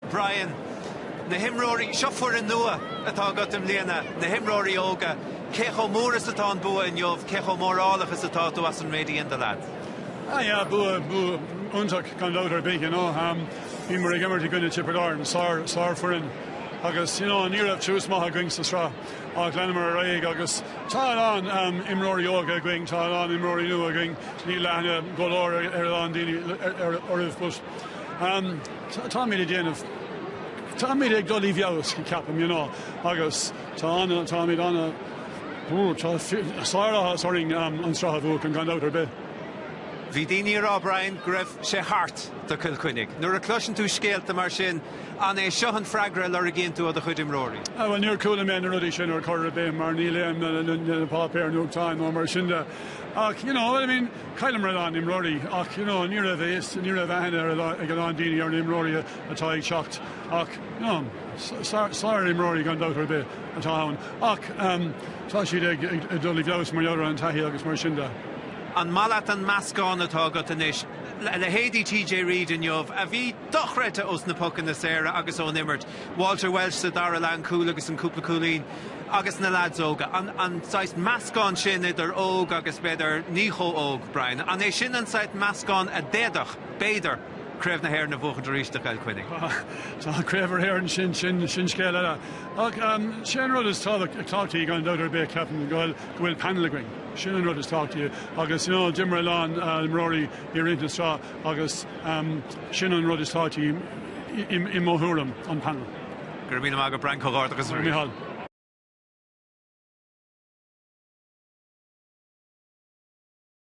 Brian, Na himreoirí, seo foireann nua atá agat i mbliana, na himreoirí óga, cé chomh mór is atá an bua inniu, cé chomh mórálach is atá tú as an méid a dhein do leaids? Ah, yeah, bua, bua, iontach gan dabht ar bith, you know, um, bhíomar ag imirt i gcoinne Tipperary, sár, sár foireann, agus, you know, ní raibh tús maith againn sa sraith. Ach leanamar ar aghaidh agus tá a lán imreoirí óga againn, tá a lán imreoirí nua againn, níl aithne go leor ar a lán daoine orthu but táimid ag déanamh, táimid ag dul i bhfeabhas, ceapaim, you know, agus tá ana, táimid ana, ú, tá sár áthas orainn an sraith a bhuachan, gan dabht ar bith. Bhí daoine ag rá, Brian, go raibh sé thart do Cill Chainnigh. Nuair a cloiseann tú scéalta mar sin, An é seo an freagra a lorgaíonn tú ó do chuid imreoirí? Bhuel, níor chuala mé na rudaí sin ar chor ar bith mar ní léim na páipéir nuachtáin nó mar sin de. Ach you know, I mean, cailleamar a lán imreoirí ach you know, ní raibh a fhios, ní raibh aithne ag a lán daoine ar na imreoirí atá ag teacht ach you know, sár imreoirí gan dabht ar bith atá ann. Ach um, tá siad ag, ag, ag dul i bhfeabhas mar gheall ar an taithí agus mar sin de. An maith leat an meascán atá agat anois? Leithéidí TJ Reid inniu, a bhí dochreidte os na pocanna saora agus ón imirt, Walter Walsh sa dara leath an cúl agus an cúpla cúilín agus na leaids óga, an an saghas meascán sin idir óg agus b'fhéidir ní chomh óg, Brian, an é sin an saghas meascán a d'fhéadfadh, b'fhéidir, Craobh na hÉireann a bhuachan arís do Chill Chainnigh? Tá, tá, Craobh na hÉireann, sin, sin, sin scéal eile. Ach ehm, sé an rud is tábhachtaí, tábhachtaí gan dabht ar bith, ceapaim, go bhfuil, go bhfuil panel againn. Sin an rud is tábhachtaí agus, you know, d'imir a lán, eh, imreoirí i rith na sraith, Agus sin an rud is tábhachtaí i mo thuairim, an panel. Go raibh míle maith agat Brian, comhghairdeachas arís. Mícheál.